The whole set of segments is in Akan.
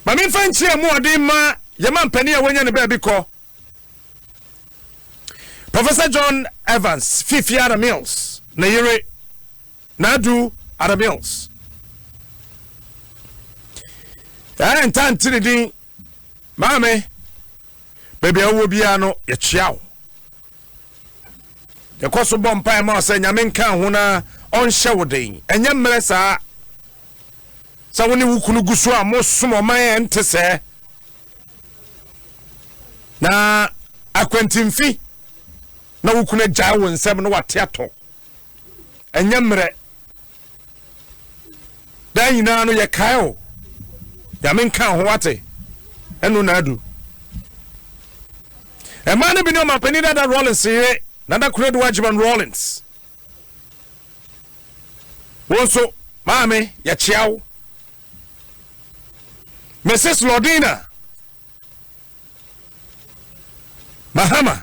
Ma me nfa nkyia mu ɔden mma yɛn mampanin a wanya ne baabi kɔ, Professor John Evans Fifi Ada Mills, ne yere, Naadu Ada Mills. Ɛɛ ntaa nti ne din, maame, baabi a wowɔ biara no, yɛkyia wo. Yɛkɔ so bɔ mpae ma sɛ Nyame nka ho na ɔnhyɛ wo den. Ɛnyɛ mmerɛ saa sɛ wo ne wo kunu gu so a mosom ɔman a ɛnte sɛɛ na akwantimfi na wo kunu agyae wo nsam na wate atɔ. ɛnyɛ mmerɛ daa nyinaa no yɛkae o nyame nka ho wate ɛno na adu ɛmaa no bi ne ɔmampanin dada rollins yere nada koradu agyeman rollins wo nso maame yɛkyea wo mrs lordina mahama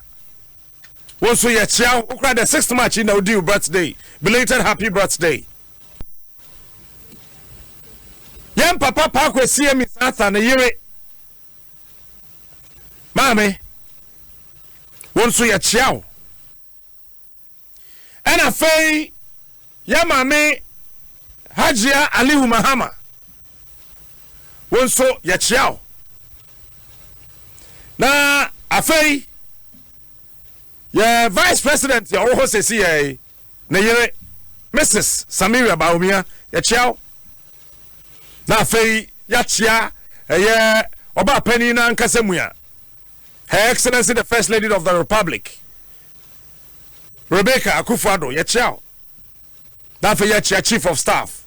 wɔn nso yɛkyea wo kora the sixth march yi na wodi wo birthday belated happy birthday yɛn papa paako esie mi sasa ne yere maame wɔn nso yɛkyea wo ɛna afei Yɛ maame Hajia Alihu Mahama wo nso yɛkyea wo. Na afei yɛ vice president a ɔwɔ hɔ sɛsi yɛ ne yere Mrs Samira Bawumia yɛkyea wo. Na afei yɛakyea ɛyɛ ɔbaa panyin no ankasa mu a Her Excellency the First Lady of the Republic Rebecca Akuffo Addo yɛkyea wo na afei yɛkyea Chief of Staff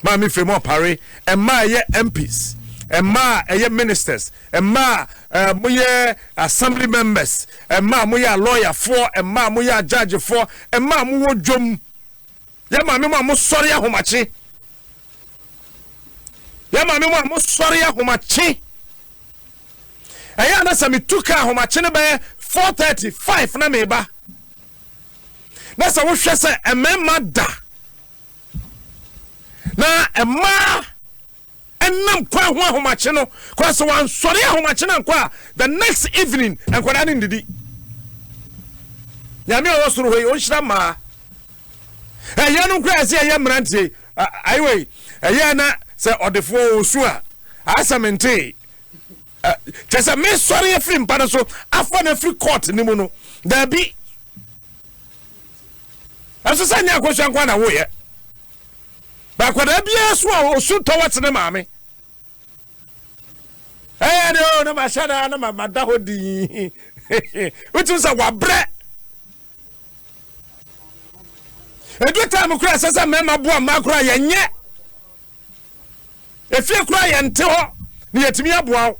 Maame Firemu Opare mmaa a ɛyɛ MPs mmaa a ɛyɛ ministers mmaa a eh, moyɛ assembly members mmaa a moyɛ alɔyafoɔ mmaa a moyɛ agyagyefoɔ mmaa a mowɔ dwom Yɛ maame mo a mo sɔre ahomakye. Yɛ maame mo a mo sɔre ahomakye. Ɛyɛ anasa me tu ka ahomakye no bɛyɛ four thirty five na me ba. Na sɛ wohwɛ sɛ mmarima da na mmaa nam kwan ho ahomakye no kora sɛ wansɔre ahomakye no ankɔ a the next evening nkwadaa no ndidi nyame a ɔwɔ soro hɔ yi ɔnhyira mmaa ɛyɛ no kora ɛsɛ ɛyɛ mmeranteɛ ayiwa yi ɛyɛ na sɛ ɔdefoɔ ɔsu a asɛm ntee kyɛ sɛ mesɔre afiri mpa no so afa no afiri court no mu no daabi ɛso sɛ nyɛ akɔhyɛ nkoa na woyɛ But akwadaa biara so a osu tɔ wɔte ne maame. Ɛyɛ de o na ma hyɛ da na ma ma da hɔ dii. Wotum sɛ wabrɛ. Edu time kura sɛ sɛ mmarima boa mmaa kura yɛn nyɛ. Efie kura yɛn te hɔ na yɛtumi aboa wo.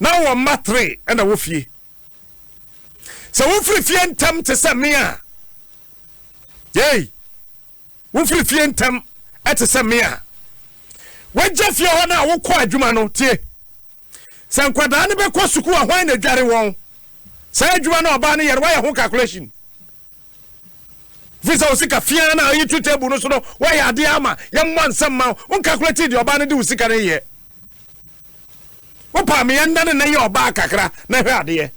na ɔwɔ mma three ɛna wɔ fie sɛ wofiri fie ntɛm te sɛ me a yei wofiri fie ntɛm ɛte sɛ me a wagya fie hɔ no a wokɔ adwuma no tie sɛ nkwadaa no bɛkɔ sukuu a hwan na adware wɔn saa adwuma no ɔbaa no yɛre wayɛ ho calculation Fi sɛ wo sika fi ara na ayi to table no so no woayɛ adeɛ ama yɛmmɔ nsɛm ma wo wo calculate deɛ ɔbaa no de wo sika no yɛ wo paa me yɛnda ne nɛ yɛ ɔbaa kakra na hwɛ adeɛ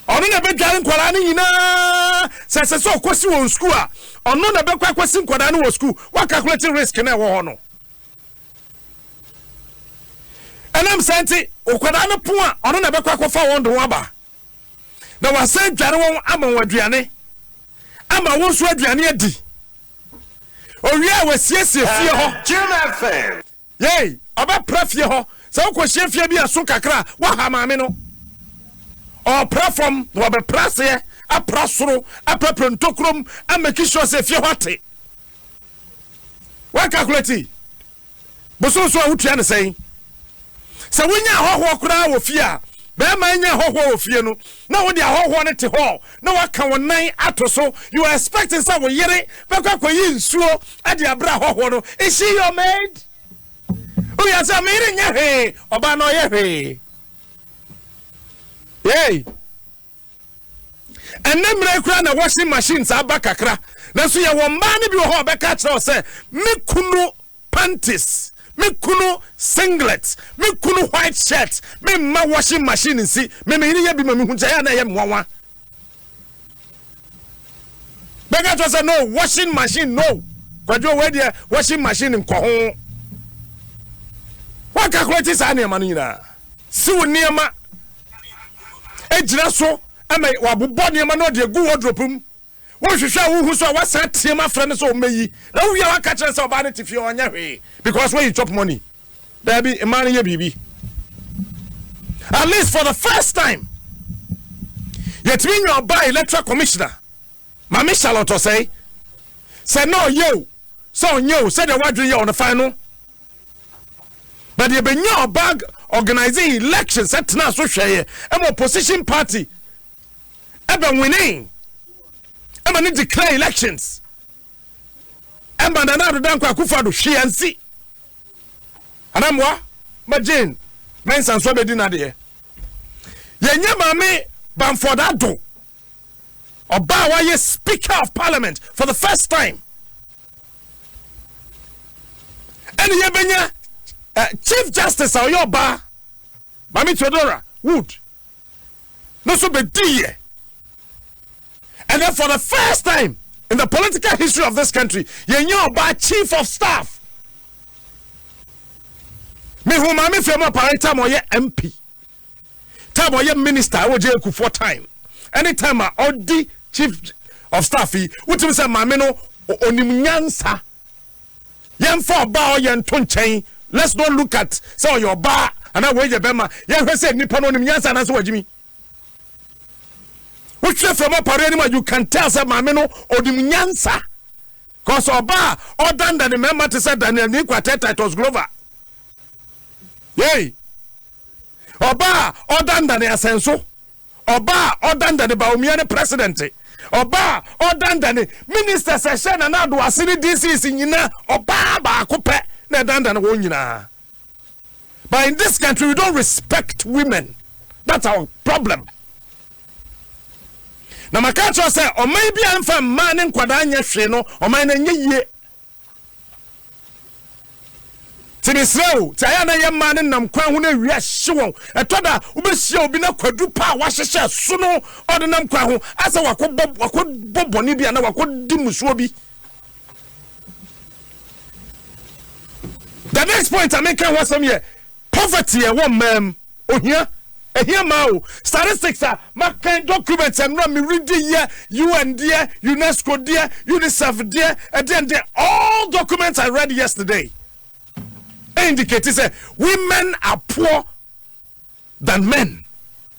ɔno na ɛbɛdware nkwadaa no nyinaa sɛ ɛsɛ sɛ ɔkɔsi wɔn sukuu a ɔno na ɛbɛkɔ akɔsi nkwadaa no wɔ sukuu wakakulate risk na ɛwɔ hɔ no ɛnam saa nti nkwadaa no po a ɔno na ɛbɛkɔ akɔfa wɔn de wɔn aba na wɔasan adware wɔn ama wɔn aduane, ama wɔn nso aduane adi. Owie a, wɔasiesie fie hɔ. Yei, ɔbɛpra fie hɔ. Sɛ wokɔhyia fie bi a so kakra a, woaha maame no. Ɔpra fam na wɔbɛpra aseɛ, apra soro, apɛpɛ ntokurom, amɛki sure sɛ fie hɔ ate. Woakalkulati? Bosoom so a wotua no sɛn? Sɛ wonya ahɔhoɔ koraa wɔ fie a, bɛɛma anya ahɔhoɔ wɔ fie no na wode ahɔhoɔ no te hɔ na waka wo nan ato so, you are expecting sɛ wo yere bɛkɔ akɔyi nsuo de abrɛ ahɔhoɔ no, is she your maid? Woyɛ sɛ me yere nyɛ hwee, ɔbaa no ɔyɛ hwee. Hey! Ɛnnɛ mmerɛ yi koraa na washing machines aba kakra, nanso yɛwɔ mmaa no bi wɔ hɔ a ɔbɛka akyerɛ wo sɛ, me kunu panties, me kunu singlet, me kunu white shirt, memma washing machine nsi, me meyere yɛ bi ma mehu nti ɛyɛ a na ɛyɛ me nwanwa. Bɛka kyerɛ sɛ no washing machine no kwadwo wei deɛ washing machine nkɔ ho. Waka kora ti saa nneɛma no nyinaa. Si wo nneɛma gyina so ma wabobɔ nneɛma na ɔde agu wardrobe mu. Wohwehwɛ a wohu so a wasan team afrɛ no sɛ ɔmmɛyi. Na wowie a waka kyerɛ sɛ ɔbaa no te fie ɔnyɛ hwee because where you chop money. Dabi, mmaa no yɛ biribi. At least for the first time, yɛtumi nya ɔbaa electoral commissioner, Maame Charlotte Osei, sɛ na ɔyɛ o, sɛ ɔnyɛ o, sɛdeɛ wadwene yɛ ɔno fan no. But yɛbɛnya ɔbaa organizing election sɛ tena so hwɛeɛ ɛma opposition party ɛbɛ winning ɛma ne declare elections. ɛma Nana Addo Dankwa Akufo-Addo hwee ansi. Anammoa ma Jane Mensah nso abɛdi n'adeɛ. Yɛnyɛ Maame Bamford Addo, ɔbaa a wayɛ Speaker of Parliament for the first time. Ɛne yɛbɛnya uh, Chief Justice a ɔyɛ ɔbaa Maame Theodora Wood. no nso bɛdiiɛ. And then for the first time in the political history of this country, yɛnya ɔbaa chief of staff. Mehu maame fam apare time ɔyɛ MP. Time ɔyɛ minister ɛwɔ gye ekufoɔ time. Anytime a ɔdi chief of staff yi, wotumi sɛ maame no onim nyansa. Yɛmfa ɔbaa a ɔyɛ nto nkyɛn. Let's not look at sɛ ɔyɛ ɔbaa anaa wei yɛ bɛrima. Yɛnhwɛ sɛ nipa no ɔnim nyansa anaasɛ wagyimi. Wotwerɛ from ɔpareɛ no mu a you can tell sɛ maame no ɔnim nyansa. Cause ɔbaa a ɔdanda ne mmarima te sɛ Daniel Niko atɛ Titus Glover. Yei. Ɔbaa a ɔdanda ne asɛnso. Ɔba a ɔdandane Bawumia ne president. Ɔba a ɔdandane ministers a ɛhyɛ Nana Addo ase ne DCs nyina. Ɔbaa baako pɛ na ɛdandane wɔn nyinaa. But in this country we don't respect women. That's our problem. Na maka akyerɛ sɛ ɔman bi a ɛmfa mmaa ne nkwadaa nyɛ hwee no, ɔman no ɛnyɛ yie. Ti mesrɛ wo, ti ayɛ na yɛ mmaa no nam kwan ho na awia hye wɔn. Ɛtɔ da wobɛhyia obi na kwadu pa a wahyehyɛ so no ɔde nam kwan ho asɛ wakɔbɔ wakɔbɔ bɔne bi anaa wakɔdi mmusuo bi. The next point a meka ho asɛm yɛ Poverty a ɛwɔ mmaa mu, ohia, ɛhia mmaa o, statistics a makan, documents a nnora me reading yɛ, UN deɛ, UNESCO deɛ, UNICEF deɛ, ɛdeɛn deɛ, all documents I read yesterday indicate sɛ women are poor than men.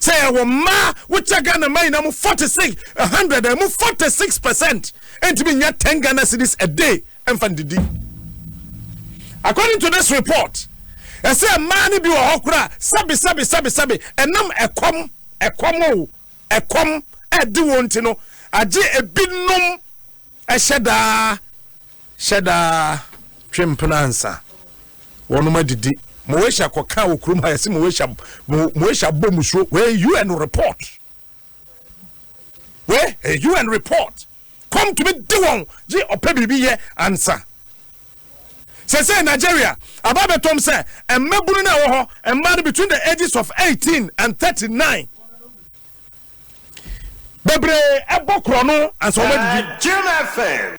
sɛ yɛwɔ mmaa wokyɛ Ghana mmaa nyinaa mu forty six a hundred a ɛmu forty six percent ntumi nya ten Ghana cedis a day mfa ndidi according to this report ɛsɛ mmaa no bi wɔ hɔ koraa sɛbi sɛbi sɛbi sɛbi ɛnam ɛkɔm ɛkɔm o ɛkɔm ɛde wɔn ti no agye ebinom ɛhyɛ daa Hyɛ da twe mpena ansa wɔnom adidi. Moesha kɔka wɔ kurom ha yɛse Moesha Moesha bɔ musuo wei UN report wei ɛyɛ UN report kɔm tumi de wɔn gye ɔpɛ biribi yɛ ansa sɛsɛ Nigeria aba bɛtɔm sɛ mmabunu no a wɔ hɔ mmaa no between the ages of 18 and 39 bebree ɛbɔ korɔ no ansa wɔn adidi.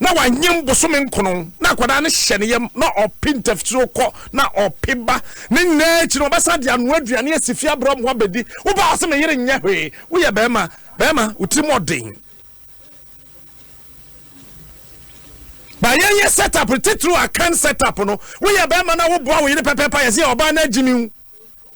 Na wanyem bosome nkron, na akwadaa no hyɛ ne yam, na ɔpe ntafituo kɔ, na ɔpe ba. Ne nyinaa akyi no, ɔbɛsan de anoa aduane asi fie abrɛ wɔn abɛdi. Wo ba ɔse, Me yere nyɛ hwee. Woyɛ barima. Barima, wo tirim wɔ den. Ba yɛnyɛ set up no titiriw, Akan set up no. Woyɛ barima na woboa wo yere pɛpɛɛpɛ a, yɛse ɔbaa no agyimi wo.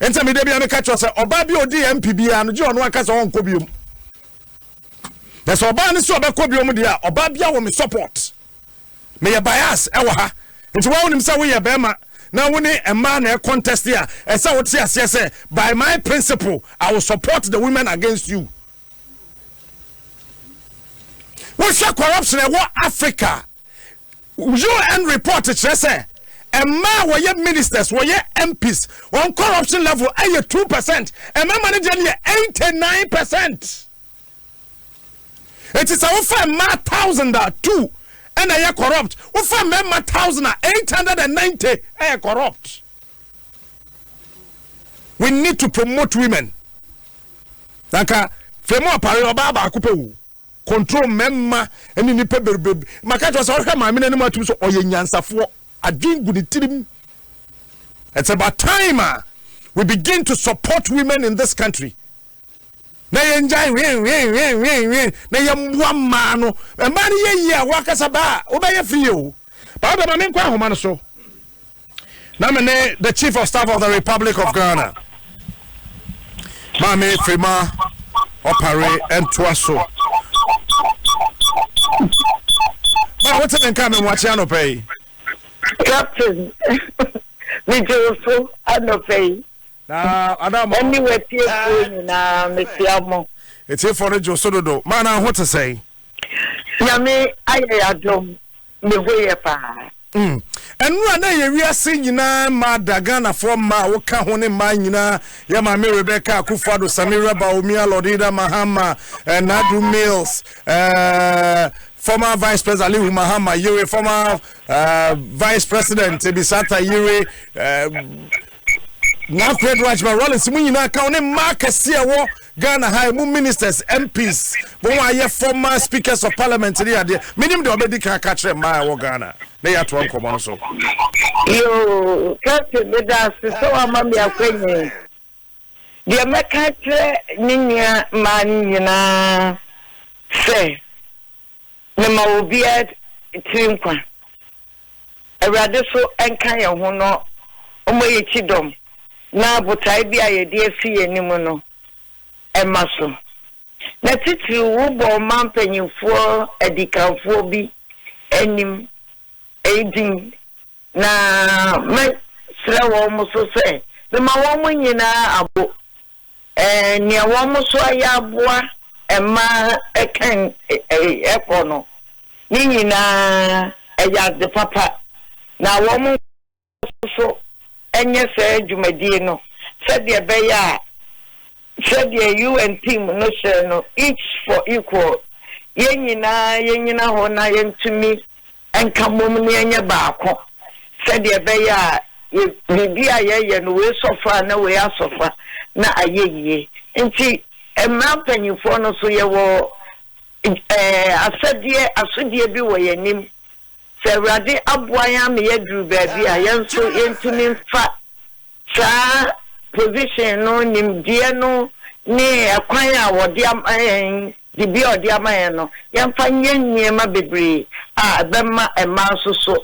Enti me da bi a meka kyerɛ sɛ ɔbaa bi a odi yɛn mpi biara no gye ɔno aka sɛ ɔnkɔ biom. Na sɛ ɔbaa no sɛ ɔbɛkɔ biom deɛ a ɔbaa biara wɔ me support. Meyɛ bias ɛwɔ ha. Nti wɔn wonim sɛ woyɛ bɛrima na wo ne mmaa na ɛcontest a ɛsɛ wote aseɛ sɛ by my principle I will support the women against you. wohwɛ corruption a ɛwɔ africa un report kyerɛ sɛ ɛmaa wɔyɛ ministers wɔyɛ mps wɔn corruption level ɛyɛ two percent ɛmɛma no deɛ no yɛ eighty nine percent eti sɛ wofa mmaa thousand a two ɛna ɛyɛ corrupt wofa mmarima thousand a eight hundred and ninety ɛyɛ corrupt. we need to promote women nanka fɛmu apare ɔbaa baako pɛ o control mmarima ne nipa bebrebe maka kyerɛ sɛ ɔhwɛ maame no anim atum so ɔyɛ nyansafoɔ adwen gu ne tirim it's about time a we begin to support women in this country na yɛngyae hwenhwenhwenhwenhwen na yɛmmoa mmaa no mmaa no yɛ yie a woakasa baa wobɛyɛ firi yɛ o baa bɛma menkɔ ahoma no so na me ne the chief of staff of the republic of ghana maame firima ɔpare ntoa so ma wote me nka me mmoakye anɔpɛ yi captain megye wo so anɔpɛ yi Na ada ama Ɛne wo. w'atiefoɔ nyinaa, mekyea mo. Atiefoɔ no dwo so dodo. Maana ho te sɛn? Nyame ayɛ y'adom, ne ho yɛ paa. Mm. Ɛnora na ɛyɛ wiase nyinaa mmaa da, Ghanafoɔ mmaa a woka ho ne mmaa nyinaa, yɛ Maame Rebecca Akufo-Addo, Samira Bawumia, Lordida Mahama, eh, Nadu Mills, eh, former Vice President Alihu Mahama Yere, former eh, Vice President Ebisata Yere, eh, na fred rajma rollins mu nyinaa ka ho ne mmaa akɛseɛ a ɛwɔ ghana ha ɛmu ministers mps wɔn a ayɛ former speakers of parliament ne adeɛ menim deɛ ɔbɛdi kan aka kyerɛ mmaa a ɛwɔ ghana na yɛatoa nkɔmmɔ no so yoo captain meda ase sɛ wama me akwanya yi deɛ mɛka kyerɛ ne nua mmaa no nyinaa sɛ Mema obiara tiri nkwa. Awurade so nka yɛn ho na ɔmma yɛn kyidɔm na botae bi a yɛde afi yɛn anim no mma so. Na titiriw wobɔ ɔman mpanyimfoɔ adikanfoɔ bi anim eyi din, na mɛsrɛ wɔn nso sɛ mema wɔn nyinaa abo Nea wɔn nso ayɛ aboa mma kan kɔ no, ne nyinaa ɛyɛ ade papa, na wɔn nso nyɛ saa dwumadie no sɛdeɛ ɛbɛyɛ a, sɛdeɛ UN Theme no hyɛɛ no, Each for Equal, yɛn nyinaa yɛnyina hɔ na yɛntumi. nka mmom na yɛnyɛ baako, sɛdeɛ ɛbɛyɛ a yɛ, biribi a yɛyɛ no, wei sɔ fa a, na wei asɔ fa, na ayɛ yie. Nti, mmara mpanimfoɔ no nso, yɛwɔ ɛɛ asɛdeɛ, asodie bi wɔ yɛn anim. Sɛ Awurade aboa yɛn ama yɛaduru baabi a, yɛn nso yɛntumi mfa. Saa position no, nimdeɛ no ne ɛkwan a wɔde ama yɛn, dibea a wɔde ama yɛn no, yɛmfa nyɛ nneɛma bebree a ɛbɛma mmaa nso so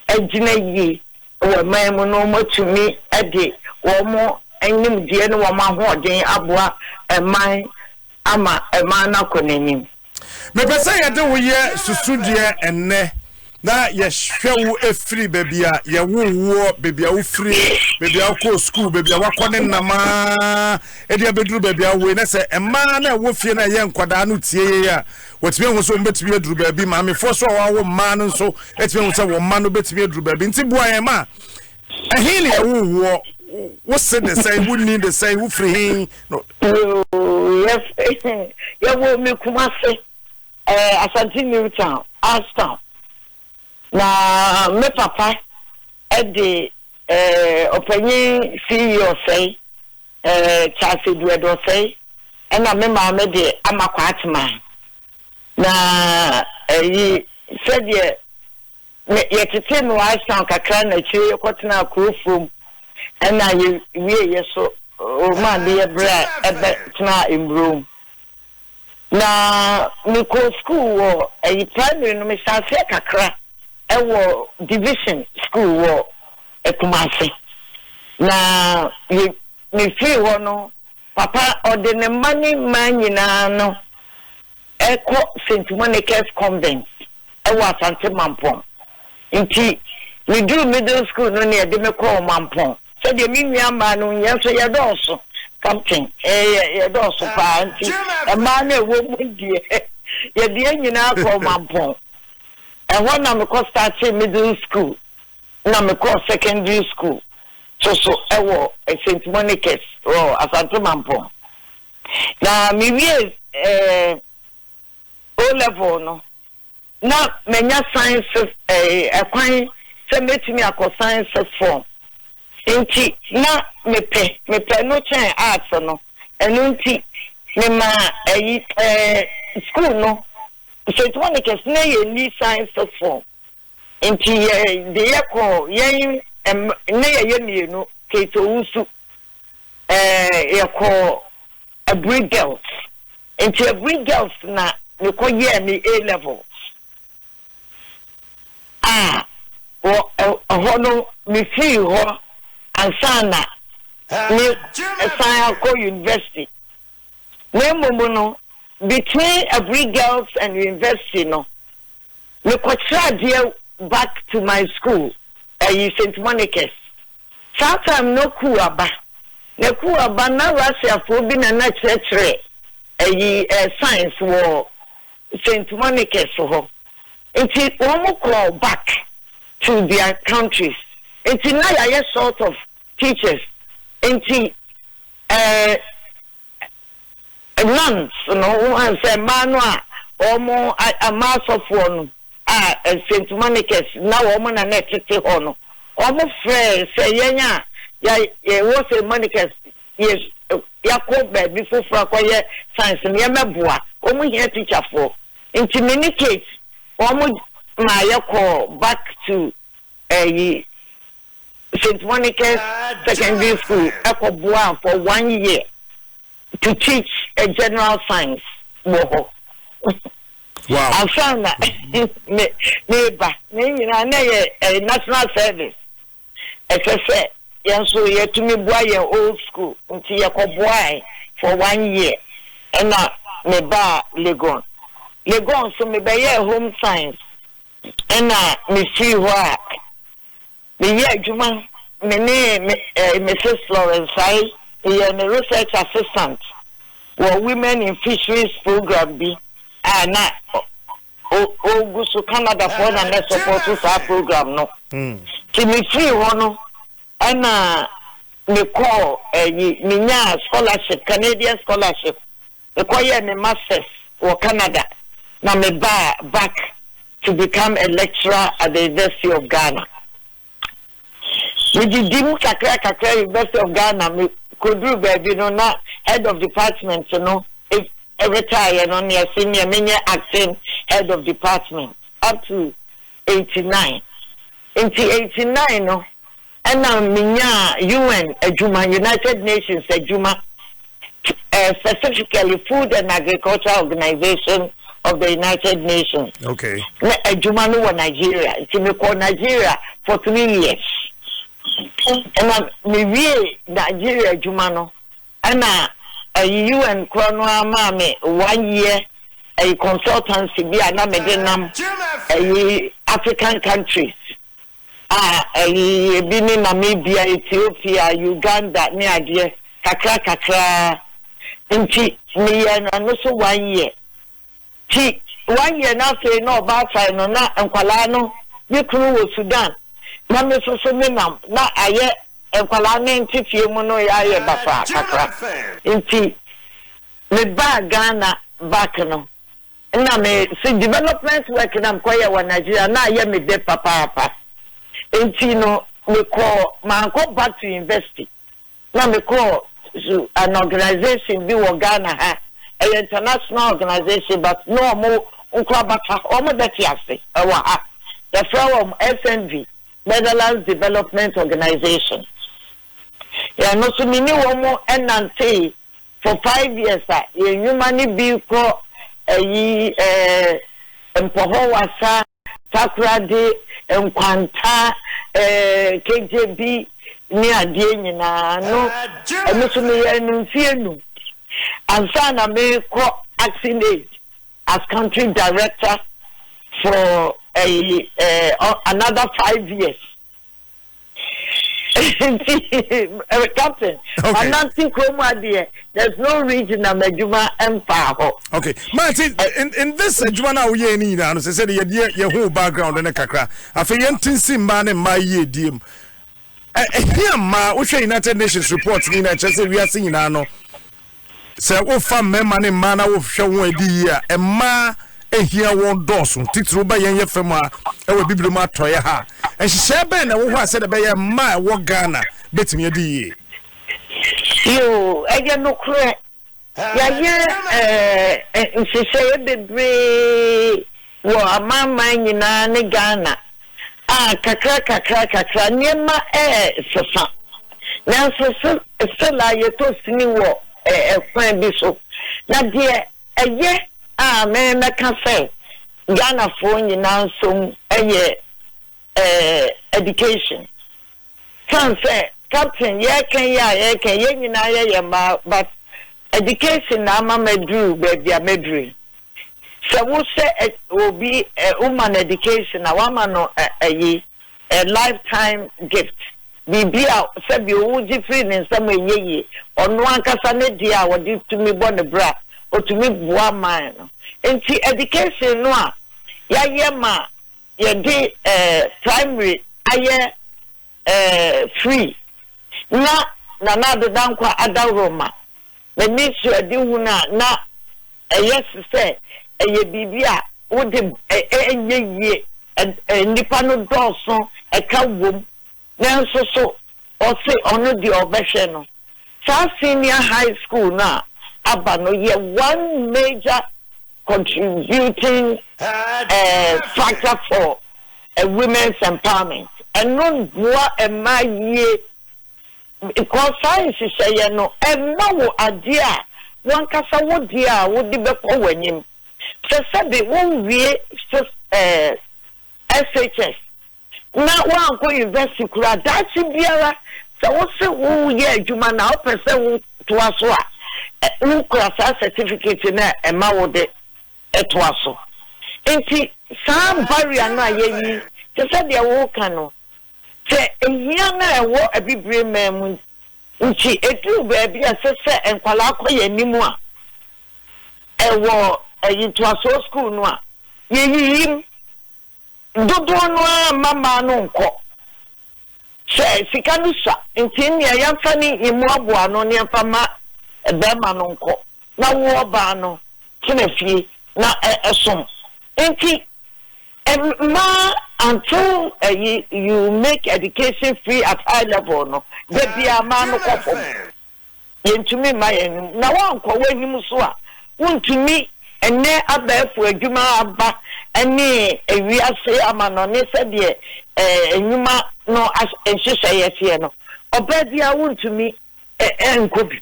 agyina yie wɔ man mu na wɔatumi de wɔn nimdeɛ ne wɔn ahoɔden aboa man ama man no akɔ n'anim. Mepɛ sɛ yɛde wo yɛ susudeɛ ɛnnɛ na yɛhwɛ wo firi baabi a yɛwoo woɔ, baabi a wofirie, baabi a wokɔɔ sukuu, baabi a wakɔ ne nam ara de abɛduru baabi a wowei. Na sɛ mmaa no a ɛwɔ fie no a ɛyɛ nkwadaa no tie yei a, wɔtumi ahu sɛ wɔbɛtumi aduru baabi. Maamefoɔ so a wɔawo mmaa no nso atumi ahu sɛ wɔn mma no bɛtumi aduru baabi. Nti boa yɛn ma Ɛhe na ɛwoo woɔ? Wo se de sɛn? Wo ni de sɛn? Wo firi he? No. Yɛwɔ me Kumase, eh, Asante New Town, Arstown. Na me papa de eh, ɔpanyin Siyi Ɔsɛe, eh, Charles Eduɛdo Ɔsɛe, ɛna me maame de ama Kwatema. Na ɛyi, eh, sɛdeɛ Me, yɛtetee no wɔ Ashtown kakra na akyire yɛkɔtenaa kuro fam ɛna yɛwieeɛ so ma ade yɛ berɛ a ɛbɛ tenaa mburom. Na mekɔɔ sukuu wɔ ɛyi primary no mehyɛɛ aseɛ kakra ɛwɔ division sukuu wɔ Kumasi na yɛ mefiri hɔ no papa ɔde ne mma ne mmaa nyinaa no rekɔ St. Monica's Convent wɔ Asante Mampong. Nti meduu middle school no na yɛde me kɔɔ Mampong. Sɛdeɛ me nua mmaa no, yɛn nso yɛdɔɔso, Captain, yɛ yɛdɔɔso pa ara nti, mmaa no a ɛwɔ mu deɛ, yɛde yɛn nyinaa kɔɔ Mampong. Ɛhɔ na mekɔ startee middle school na mekɔɔ secondary school nso so wɔ St. Monica's wɔ Asante Mampong. Na mewiee O-Level no, na manya Sciences ɛɛ kwan sɛ mɛtumi akɔ Sciences form, nti na mepɛ, mepɛ ɛno kyɛn Arts no, ɛno nti memaa ɛyi ɛɛ sukuu no, St. Monica's, na yɛnni Sciences form, Nti yɛ de yɛ kɔɔ yɛn ne yɛ yɛ mmienu Kate Owusu ɛɛ yɛ kɔɔ Aburi Girls nti Aburi Girls na me kɔ yɛɛ me A levels a wɔ ɛhɔ no me firii hɔ ansa na me san akɔ University na mmom no between Aburi Girls and University no Mekɔkyerɛ adeɛ back to my school ɛyi Saint Monica's saa time no kuu aba na kuu aba na Russia foɔ bi na na kyerɛkyerɛ ɛyi ɛɛ science wɔ Saint Monica's hɔ nti wɔn kɔɔ back to their countries nti na yɛayɛ short of teachers nti ɛɛ Months no woan sɛ mmaa no a wɔn a mmaa asɔfoɔ no a Saint Monica's na wɔn na na ɛtete hɔ no wɔn frɛɛ sɛ yɛn a ya yɛ wɔ Saint Monica's yɛ yɛakɔ baabi foforɔ akɔyɛ science no yɛmmɛboa wɔn hia teacher foɔ nti me ne Kate wɔn maa yɛkɔɔ back to ɛyi. St. Monica's Secondary School kɔboaa for one year to teach a general science wɔ hɔ. Wow. Ansa na me meba na nyinaa na yɛ eh, national service. Ɛsɛ sɛ yɛn nso yɛtumi boa yɛn old school nti yɛkɔboae for one year ɛna mebaa Legon. Legon nso mebɛyɛɛ home science Ɛnna mifii hɔ a meyɛɛ adwuma, me ne Mrs. Florence Sae, meyɛɛ ne research assistant wɔ Women in Fisheries program bi a na ogu so, Canadafoɔ na na ɛsɔpɔɔto saa program no. Nti mefiri hɔ no, ɛnna mekɔɔ ayi, menyaa scholarship, Canadian scholarship Mekɔyɛɛ me Masters wɔ Canada na mebaa back to become a lecturer at the University of Ghana. Medidi mu kakra kakra University of Ghana, mekoduru baabi no na Head of Department no retireɛ no neɛ se neɛ menyɛ Acting Head of Department up to eighty nine. Nti eighty nine no Ɛna menyaa UN adwuma, United Nations adwuma, specifically Food and Agriculture Organization of the United Nations. Okay. Na adwuma no wɔ Nigeria, nti mekɔ Nigeria for three years. Ɛna mewie Nigeria adwuma no, ɛna ɛyi UN korɔ no ara maa me one year ɛyi consultancy bi a na mede nam ɛyi African countries. a ayiyie bi ne Namibia, Ethiopia, Uganda ne adeɛ kakra kakra nti meyɛɛ no ɛno so one year ti one year no afei na ɔbaatan no na nkwadaa no me kunu wɔ Sudan na me nso so me nam na ayɛ nkwadaa no nte fie mu no ayɛ basaa kakra nti me baa Ghana back no. Nna me se development work na mekɔyɛ wɔ Nigeria na ayɛ me dɛ papaapa ntsi no mekɔɔ mannkɔ back to university na mekɔɔ su an organisation bi wɔ Ghana ha ɛyɛ international organisation but na ɔmo nkora bata ha ɔmo bɛtse ase wɔ ha yɛfrɛ wɔn SNV Netherlands Development Organisation yɛ no so me ne wɔn nantee for five years a yɛn nnwuma no bi kɔ ayi eh, Mpɔhɔ Wassa, Takoradi, Nkwanta eh, Kegyebi ne adeɛ nyinaa no ɛno nso meyɛɛ no mfeɛ nnum ansa na mekɔ Action Aid as country director for ayi eh, another five years. Eh, captain okay. anante kurom adeɛ there's no region na m'adwuma mfaa hɔ okay maate eh. in, in this adwuma no a woyɛɛ no nyinaa no sɛ sɛ yɛdeɛ yɛho background no kakra afei yɛnte nsi mmaa ne mmaa yie die mu ɛhia mmaa wohwɛ united nations report no nyinaa kyerɛ sɛ wiase nyinaa no Sɛ wofa mmarima ne mmaa na wohwɛ wɔn adi yie a, mmaa hia wɔn dɔɔso, titiriw ba yɛn yɛ fam ha wɔ Abibirim atɔeɛ ha. Nhyehyɛe bɛn na ɛwɔ hɔ a sɛdeɛ ɛbɛyɛ mmaa a ɛwɔ Ghana bɛtumi adi yie? Yoo, ɛyɛ nokorɛ. Yɛayɛ nhyehyɛeɛ bebree. Wɔ amanaman nyinaa ne Ghana a, kakra kakra kakra nneɛma resesa. Nanso still a yɛtɔ sini wɔ kwan bi so. Na deɛ ɛyɛ a mɛka sɛ Ghanafoɔ nyinaa nso mu yɛ education. Ɛsiane sɛ captain yɛreka yi a yɛreka yɛn nyinaa yɛ yɛn mma but education na ama maduru baabi a maduru yi. Sɛ wo hyɛ obi wo ma no education a w'ama no ɛyi a life time gift biribi a sɛbi o wogye firi ne nsam a ɛnyɛ yie ɔno ankasa ne deɛ a ɔde tumi bɔ ne bra ɔtumi boa man no nti education no a yayɛ ma Yɛde eh primary ayɛ eh free na Nana Ado Dankwa adaworo ma m'ani so adehu no a na ɛyɛ se sɛ ɛyɛ biribi a wode eh ɛnyɛ yie eh nnipa no dɔɔso ɛka wom Nanso so ɔse ɔno deɛ ɔbɛhwɛ no? Saa senior high school no a aba no yɛ one major contributing factor for women's empowerment. Ɛno boa mmaa yie because saa nhyehyɛeɛ no ɛma wo adeɛ a wankasa wo deɛ a wode bɛkɔ w'anim. Te sɛ de wo wie SHS na woankɔ yunivɛsiti koraa, daakye biara sɛ wose woreyɛ adwuma na wopɛ sɛ wotoa so a, wokura saa sɛtifiketi no a ɛma wode toa so. Enti saa barrier no a yɛayi, te sɛ deɛ woreka no, sɛ hia no a ɛwɔ abibire man mu nti, ɛduru baabi a ɛsɛ sɛ nkwadaa kɔ yɛn anim a, wɔ ntoasoɔ sukuu no a, yɛyiyi mu. Dodoɔ no ara mma mmaa no nkɔ. Sɛ sika no sua nti nneɛ yɛmfa ne yɛmmoaboa ano na yɛmfa mma barima no nkɔ na wo ɔbaa no tena fie na som. Nti mmaa until ɛyi you make education free at high level no dabiara mmaa no kɔ fam. yɛntumi mma yɛn anim. Na woankɔ w'anim nso a, wontumi. Ɛnnɛ abɛɛfo adwuma aba ne wiase amannɔne sɛdeɛ ɛɛ nnwuma no as nhyehyɛeɛ teɛ no, ɔbaa biara wontumi ɛ nkɔ bi.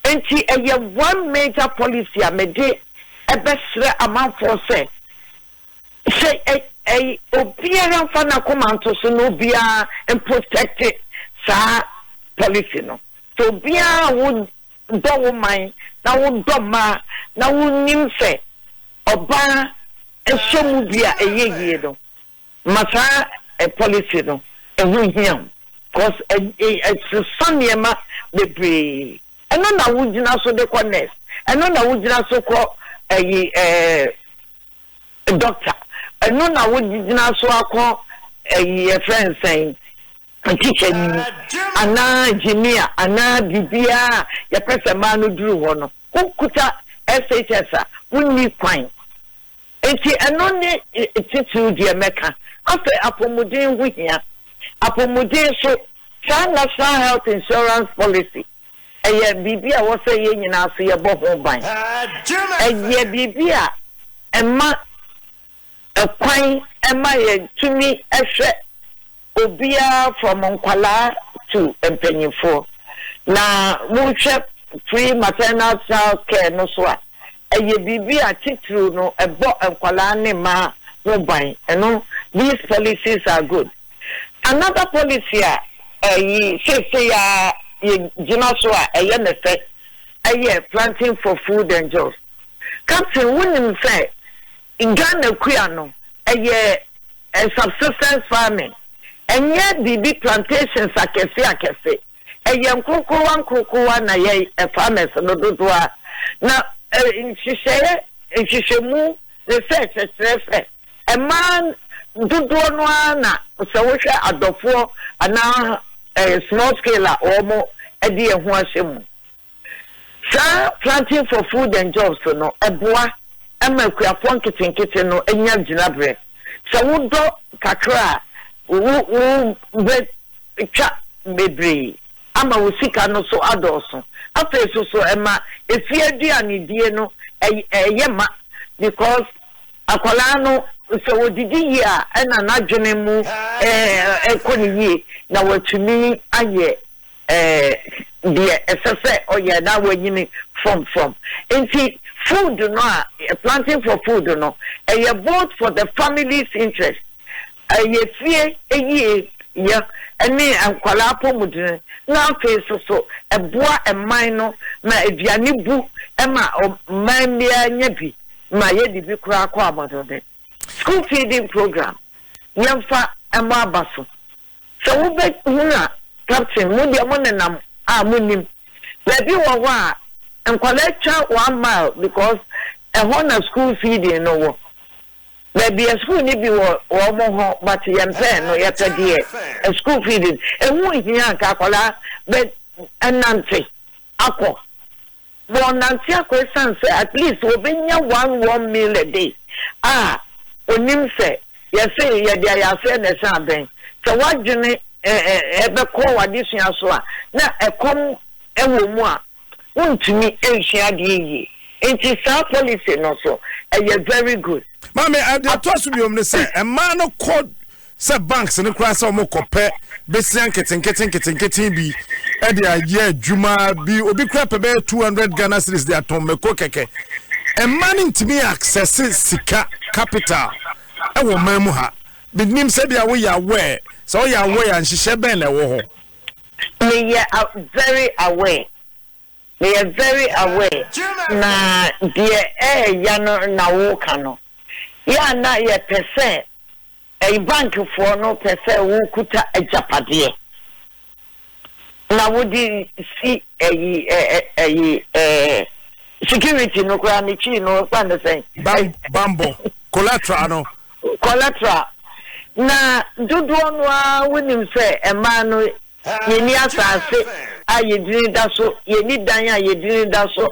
Enti ɛyɛ one major policy a mede bɛsrɛ amanfoɔ sɛ, Sɛ ɛy obiara mfa n'akoma nto so na obiara mprotɛkte saa policy no. Sɛ obiara a wo dɔ wo man na wo dɔ mmaa na wo nim sɛ ɔbaa hyɛ mu bi a ɛyɛ yie no, ma saa ɛ policy no ɛho nhia wo. Cos ɛ ɛ ɛsesa nneɛma bebree. Ɛno na wo gyina so de kɔ nurse, ɛno na wo gyina so kɔ ɛyi ɛɛ. doctor ɛno na wo gyina so akɔ ɛyi yɛfrɛ no sɛn teacher ni mu anaa engineer anaa biribiara a yɛpɛ sɛ mmaa no duru hɔ no wokuta SHS a wonni kwan nti ɛno ne titiriw deɛ mɛka afei apɔmuden ho hia apɔmuden so saa national health insurance policy Ɛyɛ biribi a ɛwɔ sɛ yɛn nyinaa nso yɛbɔ ho ban. Ɛyɛ biribi a ɛma kwan ma yɛtumi hwɛ obiara from nkwadaa to mpanimfoɔ. Na wohwɛ pre-maternal child care no nso a, ɛyɛ biribi a titiriw no ɛbɔ nkwadaa ne mmaa ho ban. Ɛno, these policies are good. Another policy a ɛyi seesei ara yɛgyina so a ɛyɛ me fɛ yɛ planting for food and jobs. Captain, wonim sɛ Ghana kua no ɛyɛ subsistence farming, ɛnyɛ biribi plantations akɛse akɛse. ɛyɛ nkorokorowa nkorokorowa na yɛ farmers no dodoa na nhyehyɛɛ nhwehwɛmu research kyerɛ sɛ ɛmaa dodoɔ no ara na sɛ wohwɛ adɔfoɔ anaa small scale a wɔn ɛde ɛho ahyɛ mu Saa Planting for Food and Jobs no boa ma akuafoɔ nketenkete no nya gyinaberɛ. Sɛ wodɔ kakra a, wo wobɛtwa bebree ama wo sika no so adɔɔso. Afei so so ɛma efie aduanedie no yɛ ma because akwadaa no sɛ ɔdidi yie a ɛna n'adwene mu kɔ no yie na watumi ayɛ Ɛɛ deɛ ɛsɛ sɛ ɔyɛ na wanyini from from nti food no a planting for food no ɛyɛ both for the family's interest ɛyɛ fie yie yɛ ɛne nkwadaa apɔmuden na afei soso ɛboa ɛman no ma aduane bu ɛma ɔman biara nya bi ma yɛde bi koraa kɔ abɔdɔden school feeding program yɛmfa ɛmɔ aba so. Sɛ wobɛhunu a, Captain, mo deɛ monenam a monnim. Baabi wɔ hɔ a, nkwadaa twa one mile because ɛhɔ na school feeding no wɔ. Baabi a school no bi wɔ wɔn hɔ but yɛmpɛɛ no, yɛpɛ deɛ school feeding. Ɛho nhia anka akwadaa bɛnante akɔ. Wɔnante akɔ ɛsiane sɛ at least wɔbɛnya one one meal a day a ɔnim sɛ yɛse yɛde ayɛ aseɛ na ɛsɛ abɛn sɛ w'adwene ɛbɛkɔ w'adesua so a na ɛkɔm wɔ mu a wontumi nsua adeɛ yie nti saa policy no nso ɛyɛ very good. Maame deɛ ɛtoa so biom ne sɛ mmaa no kɔ sɛ banks no koraa sɛ wɔn kɔ pɛ besia nketenkete nketenkete bi ɛde ayɛ adwuma bi obi koraa pɛ bɛyɛ two hundred ghana series de atɔn mako kɛkɛ mmaa no ntumi access sika capital ɛwɔ mmaa mu ha binim sɛ bi a woyɛ aware sɛ woyɛ aware a nhyehyɛ bɛn na ɛwɔ hɔ. meyɛ very aware. Meyɛ very aware na deɛ ɛɛya no na woka no. Yɛ a na yɛpɛ sɛ ɛy bank foɔ no pɛ sɛ wokuta agyapadeɛ na wode si ɛyi ɛ ɛ ɛyi ɛ security no koraa ne kyii no wɔfrɛ no sɛn? Ban banbɔ collateral no. Collateral, na dodoɔ no ara wonim sɛ mmaa no yɛnni asaase a yɛdini da so, yɛnni dan a yɛdini da so,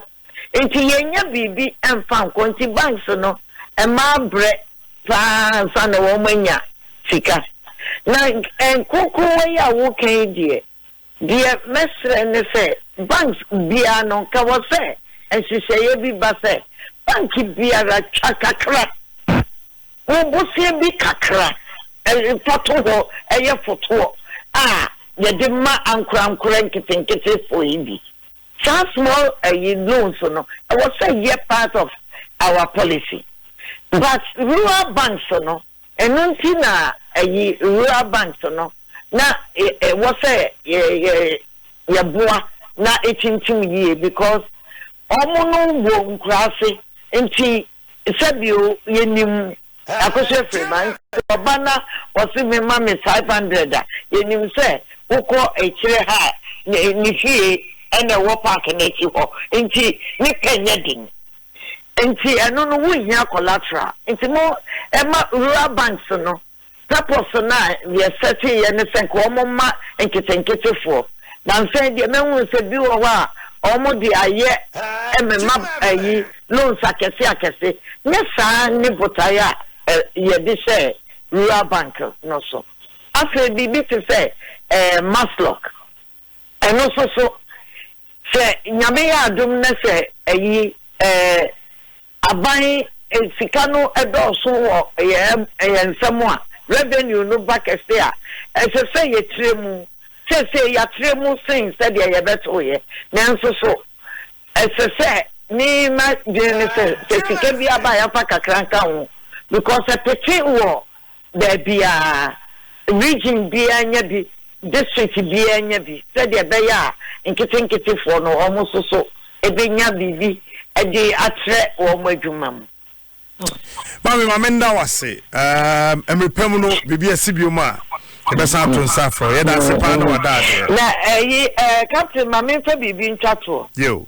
nti yɛnnya biribi mfa nkɔ, nti banks no mmaa brɛ paa ansa na wɔn anya sika, na nkrokrowa yi a woka yi deɛ, Deɛ mɛsrɛ ne sɛ banks biara no nka wɔ sɛ nhyehyɛeɛ bi ba sɛ bank biara twa kakra wo bosea bi kakra fa to hɔ yɛ fotoɔ a yɛde ma ankorankorɛ nketenketefoɔ yi bi. Saa small ayi loans no ɛwɔ sɛ yɛ part of our policy but rural banks no. Ɛno nti na ayi rural banks no na ɛwɔ sɛ yɛboa na ɛtintim yie because wɔn no wɔ nkuraase nti sɛbio yɛnim Akosua Afiriba nti ɔba na ɔse me ma me five hundred a yɛnim sɛ wokɔ akyire ha a ne fie ɛna ɛwɔ park no akyi hɔ nti ne pɛ nyɛ den. Nti ɛno no wo nhia collateral nti mo ɛma rural banks no purpose no a yɛ sɛte yɛ ne sɛ nka wɔn mma nketenkete foɔ na nsɛn deɛ mɛhunu sɛ bi wɔ hɔ a wɔn de ayɛ ɛmɛma ɛyi loans akɛse akɛse nyɛ saa ne botaeɛ a yɛde hyɛɛ rural bank no so afei biribi te sɛ ɛɛ maslock Ɛno nso so, sɛ Nyame yɛ adom na sɛ ayi eh, aban eh, sika no dɔɔso wɔ eh, yɛn nsam a, revenue no ba kɛse a, ɛsɛ sɛ yɛtrɛ mu. Seesei yɛatrɛ mu sen sɛdeɛ yɛbɛtoeɛ. Nanso so ɛsɛ sɛ me m'adwene ne sɛ, sɛ sika biara ba a yɛmfa kakra nka ho because ɛpete wɔ baabiara, region biara nya bi, district biara nya bi, sɛdeɛ ɛbɛyɛ a nketenketefoɔ no wɔn nso so bɛnya biribi de atrɛ wɔn adwuma mu. Maame, ma menda wo ase. Um, mmerɛ pa mu no, biribi asi biom a, yɛbɛsan ato nsa afrɛ wo. Yɛda ase paa na wada adeɛ. Na ɛyi, eh, eh, Captain, ma memfa biribi ntwa toɔ. Yo.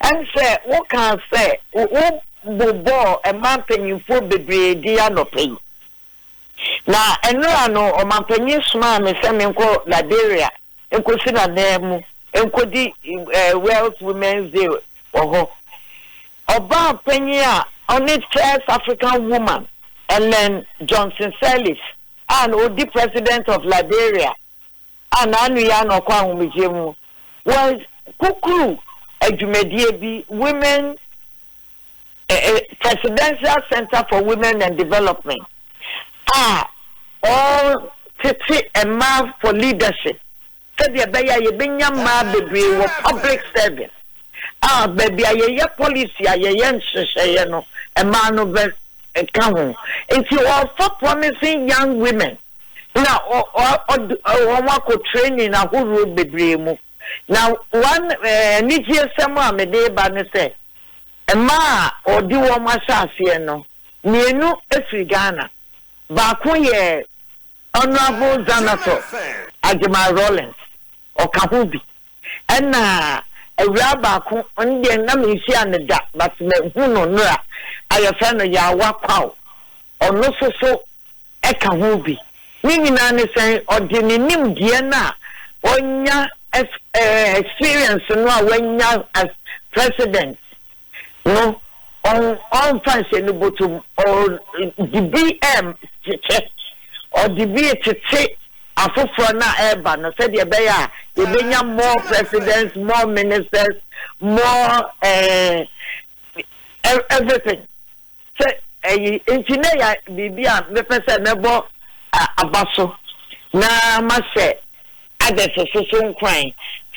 Ɛnde wokaa sɛ wobobɔɔ mmaa mpanimfoɔ bebree din anɔpa yi, na nnora no ɔmampanyin somaa me sɛ menkɔ Liberia nkɔsi n'ananmu nkɔdi World's Women's Day wɔ hɔ. Ɔbaa panyin a ɔne First African Woman, Ellen Johnson Sirleaf, a na ɔdi President of Liberia a n'ano yɛ a na ɔkɔ ahomegyeɛ mu wɔ Kukuru adwumadie bi, Women Presidential Centre for Women and Development, a ɔretete mmaa for leadership sɛdeɛ ɛbɛyɛ a yɛbɛnya mmaa bebree wɔ public service a baabi a yɛyɛ policy a yɛyɛ nhyehyɛeɛ no mmaa no bɛka ho. Nti ɔrefa promising young women na ɔde wɔn akɔ training ahoroɔ bebree mu. Na one anigyesɛm a mede reba ne sɛ, mmaa a wɔde wɔn ahyɛ aseɛ no, mmienu firi Ghana. Baako yɛ Honourable Zanator Agyemang Rawlings, Ɔka ho bi, Nna ewuraa baako, ɔno deɛ nna menhyia no da but mahu no nora a yɛfrɛ no Yaawa Kwaw, ɔno nso so ka ho bi. Ne nyinaa ne sɛ ɔde ne nimdeɛ no a ɔanya, experience no a wanya as President, no, ɔmmfa nhyɛ ne bɔtɔ mu. Ɔde bi rekyekyɛ, ɔde bi retete afoforɔ no a ɛreba no sɛdeɛ ɛbɛyɛ a yɛbɛnya more presidents, more ministers, more eh, everything. sɛ ɛyi nti na ɛyɛ biribi a mɛpɛ sɛ mɛbɔ aba so na mahyɛ others nso so nkuran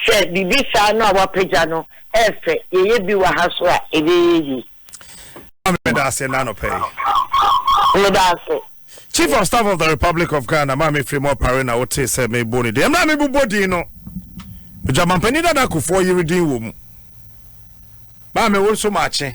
sɛ biribi saa no a wapagya no ɛyɛ fɛ, yɛyɛ bi wɔ ha so a ɛbɛyɛ yie. Maame meda ase na anɔpa yi. Meda ase. Chief of Staff of the Republic of Ghana maame firi mu ɔpare na wotee sɛ mebɔ ne din. Mmerɛ a mebobɔ din no, Dwamampanin dada kofoɔ yere din wɔ mu. Maame wo nso maakye.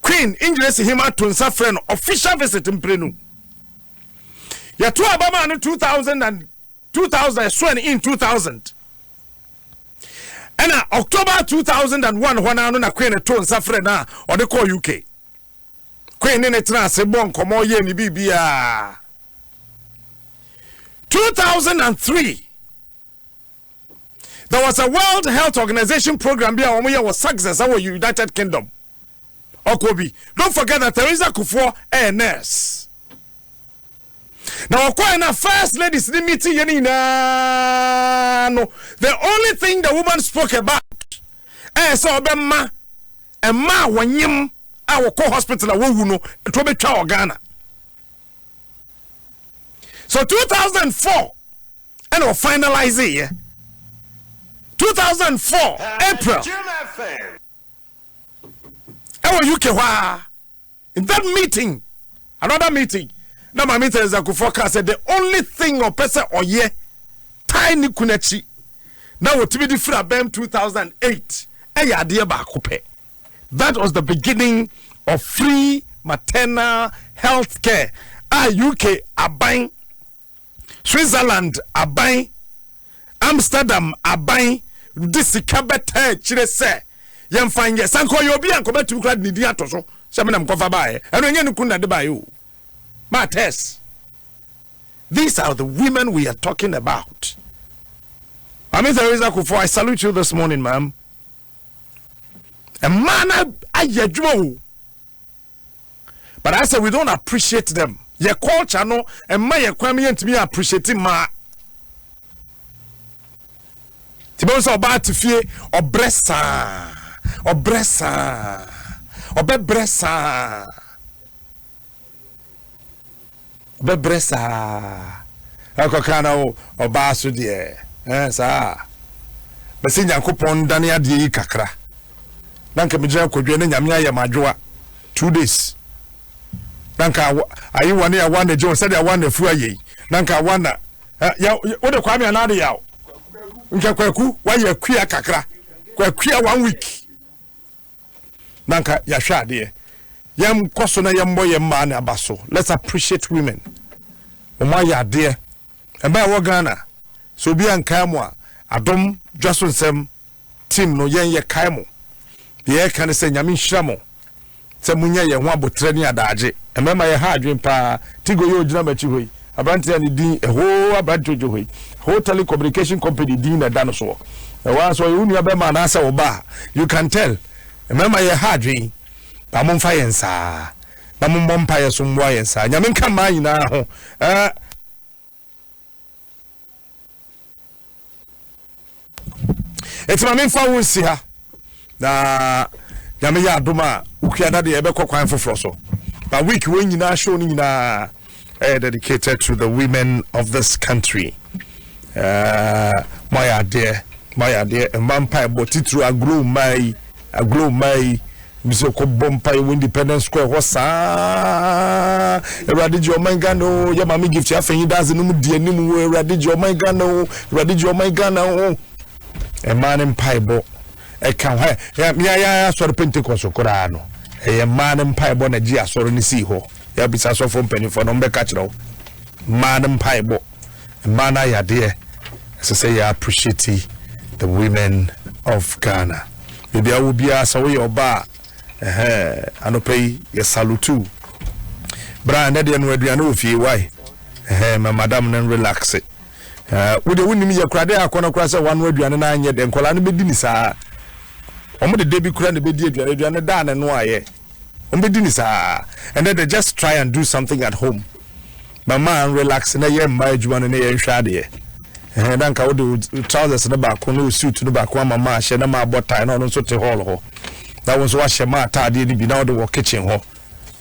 Queen Engyiresi Hima to nsa frɛ no official visit mprenu. Yɛto aba maa no 2000 and 2000 ɛsoɛ no in 2000 ɛna October 2001 hɔ naa no na Queen to nsa frɛ no a ɔde kɔɔ UK. Queen ne ne tena ase bɔ nkɔmɔ yɛ ne biribiara. 2003 there was a world health organization program bi a wɔn yɛ wɔ success ɛwɔ united kingdom ɔkɔ bi don't forget that theresa kufuɔ ɛyɛ nurse na ɔkɔɛ na first ladies ni meeting yɛ ni nyinaa no the only thing the woman spoke about ɛyɛ sɛ ɔbɛ mma ɛma a wɔnyem a wɔkɔ hospital a wɔwu no ɛtɔ bɛ twa wɔ ghana. so 2004 ɛna ɔfinalize yɛ 2004 april ɛwɔ uk hɔ a in that meeting another meeting na maame theresa kufuor kaa sɛ the only thing ɔpɛ sɛ ɔyɛ tae ne kun akyi na wɔtumi de firi abɛm 2008 ɛyɛ adeɛ baako pɛ That was the beginning of free maternal health care a UK aban, Switzerland aban, Amsterdam aban de sika bɛtaa akyire sɛ yɛmfa nyɛ sɛ nka ɔyɛ obi a nkɔbɛtumi koraa de ne din ato so sɛ menam kɔfa baeɛ ɛno ɛnyɛ ne kun na de baeɛ o ma test these are the women we are talking about Mami Theresa Kufuor I salute you this morning ma'am Mmaa no ayɛ adwuma o. But I say we don't appreciate them. Yɛ culture no mma yɛ kwan yɛ ntumi appreciate mmaa. Tibɛn sɛ ɔbaa te fie ɔbrɛ saa ɔbrɛ saa ɔbɛbrɛ saa Ɔbɛbrɛ saa. Ɛkɔka na wo ɔbaa so deɛ. Ɛɛ saa. Bɛsɛ Nyankopɔn ndane adeɛ yi kakra. Na nka megyina kwadwa na Nyame ayɛ m'adwoa. Two days. Na nka ayewa ne awa na gye wɔn sɛdeɛ awa na afu ayɛ yi. Na nka awa na. Ya wode kwame anaa de yaw. Nka kwaku wayɛ akua kakra. Kwakua one week. na nka yɛahwɛ adeɛ yɛnkɔ so na yɛmmɔ yɛn mmaa no aba so let's appreciate women wɔn ayɛ adeɛ mmaa ɛwɔ ghana sɛ obi ankae mu a adom dwa so nsɛm team no yɛn yɛ kae mo deɛ yɛka ne sɛ nyame nhyira mo sɛ monyɛ yɛn ho abotrɛ ne adaagye mmarima yɛ ha adwen paa tigo yɛ ogyina m'akyi hɔ yi aberanteɛ a ne din ɛhoo aberanteɛ odwohoi ɛhoo tele communication company din na ɛda no soɔ ɛwɔ a sɛ ɔyɛ wo nua bɛrima anaasɛ wo ba you can tell mmarima yɛ ha adwen ba mo mfa yɛn saa na mommɔ mpaeɛ so mmoa yɛn saa nyame nka mmaa nyinaa ho ɛɛ ɛti ma memfa wo nsi ha na nyame yɛ adom a wokua da deɛ ɛbɛkɔ kwan foforɔ so na week wɔ nyinaa show no nyinaa ɛyɛ dedicated to the women of this country uh, moayɛ adeɛ moayɛ adeɛ mma mpa ɛbɔ titiri agorɔ mmaa yi Agorɔ mmaa yi mi sɛ kɔ bɔ mpaeɛ wɔ independence square hɔ saa awurade gye ɔman ghana o yɛ maame gift afɛnyi daadze no mu di anim o awurade gye ɔman ghana o awurade gye ɔman ghana o mmaa no mpaebɔ ɛka hɔ ɛ meayɛ asɔre pentecost koraa no ɛyɛ mmaa no mpaebɔ na gye asɔre no sii hɔ yɛabisa asɔfoɔ mpanimfoɔ no ɔmbɛka kyerɛ wo mmaa no mpaebɔ Mmaa no ayɛ adeɛ, ɛsɛ sɛ yɛ appreciate the women of Ghana. Baabi a wɔ biara sɛ woyɛ ɔbaa ɛhɛ anɔpɛ yi yɛ salute. Bra ɛnɛ deɛ no aduane wɔ fie wae ɛhɛ ma madam no relax. Wo deɛ wonim yɛ kora de akɔ no kora sɛ wano aduane no anyɛ dɛ nkɔla no bɛdi ne saa. Wɔn de da bi kora na bɛdi aduane aduane da ne no ayɛ. Wɔn bɛdi ne saa. Ɛnɛ de just try and do something at home. Mama an relax na yɛ mmaa adwuma no ne yɛ nhwɛ adeɛ. Ɛhɛn na nka wode wo trousers no baako ne wo suit no baako ama maa hyɛ na maa bɔ tie na ɔno nso te hall hɔ. Na wo nso wahyɛ maa ataadeɛ no bi na wode wɔ kitchen hɔ.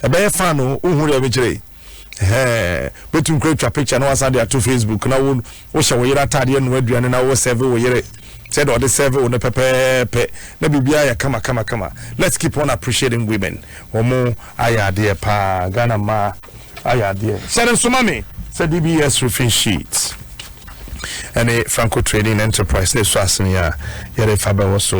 Ɛbɛyɛ fan o, wohu deɛ mekyerɛ yi? Ɛhɛn, bɛtum kura twa picture na wasan de ato Facebook na wo Wohyɛ wo yere ataadeɛ, noa aduane na wo serve wo yere sɛdeɛ ɔde serve wo no pɛpɛɛpɛ na biribiara yɛ kama kama kama. Let's keep on appreciating women. Wɔn ayɛ adeɛ paa. Ghana mmaa ayɛ adeɛ. Hyɛ no nso ma me sɛ DBS roofing sheet ɛne Franco Trading Enterprise na ɛsɔ asene a yɛde fa bɛwɔ so.